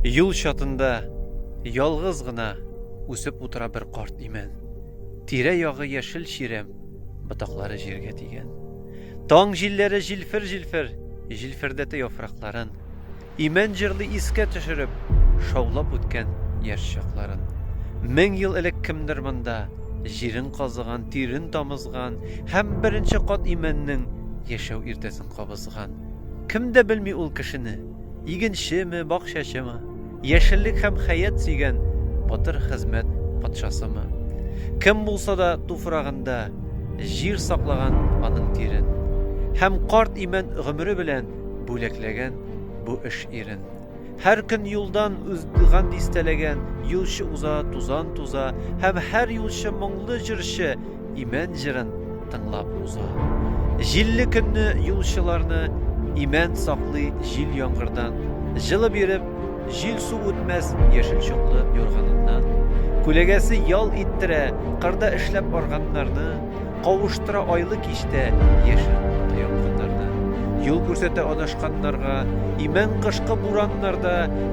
Юл чатында ялгыз гына үсеп утыра бер карт имән. Тирә-ягы яшел чирәм, ботаклары җиргә тигән. Таң җилләре җилфер-җилфер җилфердәтә яфракларын. Имән җырлый искә төшереп, шаулап үткән яшь чакларын. Мең ел элек кемдер монда җирен казыган, тирен тамызган һәм беренче кат имәннең яшәү иртәсен кабызган. Кем дә белми ул кешене. Игенчеме, бакчачымы, яшеллек һәм хәят сөйгән батыр хезмәт патшасымы? Кем булса да туфрагында җир саклаган аның тирен һәм карт имән гомере белән бүләкләгән бу эш ирен. Һәр көн юлдан уздыган дистәләгән юлчы уза тузан туза һәм һәр юлчы моңлы җырчы Имән җырын тыңлап уза. Җилле көнне юлчыларны имән саклый җил яңгырдан, җылы биреп, җил су үтмәс яшел чоклы юрганыннан. Күләгәсе ял иттерә, кырда эшләп арганнарны, кавыштыра айлы кичтә яшел утта янгыннарны. Юл күрсәтә адашканнарга, имән кышкы бураннарда